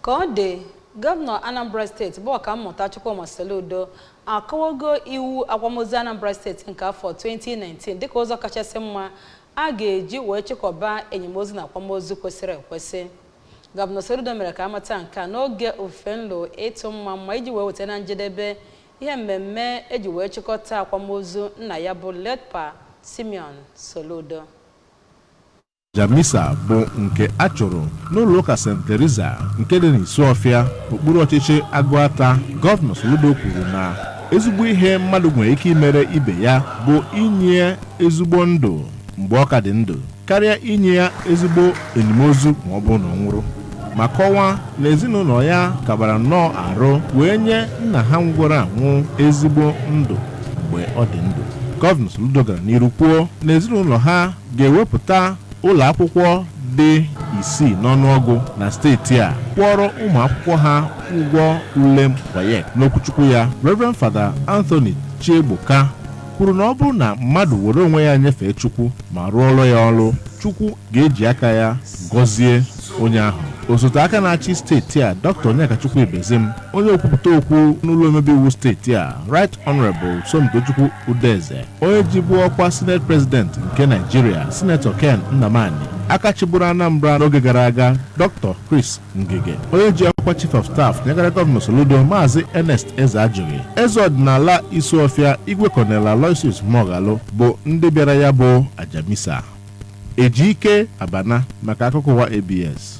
Ka ọ dị, Gọvanọ Anambra steeti bụ Ọkammụta Chukwuma Soludo akọwago iwu akwamozu Anambra steeti nke afọ 2019 dịka ụzọ kachasị mma a ga-eji wee chịkọba enimozu na akwamozu kwesịrị ekwesị. Gọvanọ Soludo mere ka a mata nke a n'oge ofufe nlo ịtụ mmamma iji wee weta na njedebe ihe mmemme e ji wee chịkọta akwamozu nna ya bụ Late Pa Simeon Soludo. Aja misa bụ nke a chụrụ n'ụlọụka St. Teresa nke dị n'Isuọfịa, okpuru ọchịchị Agụata. Gọvanọ Soludo kwuru na ezigbo ihe mmadụ nwere ike imere ibe ya bụ inye ya ezigbo ndụ mgbe ọ ka dị ndụ karịa inye ya ezigbo enimozu ma ọ bụrụ na ọ nwụrụ ma kọwaa na ezinụlọ ya kabara nnọọ arụ wee nye nna ha nwụgoro anwụ ezigbo ndụ mgbe ọ dị ndụ. Gọvanọ Soludo gara n'iru kwuo na ezinụlọ ha ga-ewepụta ụlọ akwụkwọ dị isii n'ọnụọgụ na steeti a kwụọrọ ụmụ akwụkwọ ha ụgwọ ule WAEC. N'okwuchukwu ya, Reverend Fada Anthony Chiegboka kwuru na ọ bụrụ na mmadụ were onwe ya nyefee Chukwu ma rụọrọ ya ọrụ, Chukwu ga-eji aka ya gọzie onye ahụ. Osote aka na-achị steeti a, Dr. Onyekachukwu Ibezim, onye okwupụta okwu n'ụlọ omebe iwu steeti a, Right Honorable Somtochukwu Udeze, onye jibu ọkwa sineti prezidenti nke naịjirịa sinetọ ken nnamani aka chịburu anambra n'oge gara aga dr chris ngige onye ji ọkwa chief of staff nyegara gọvanọ soludo maazị ernest ezeajughi eze ọdịnala isuọfịa igwe kọnel aloysius muoghalu bụ ndị bịara ya bụ aja misa ejike abana maka akụkọ ụwa abs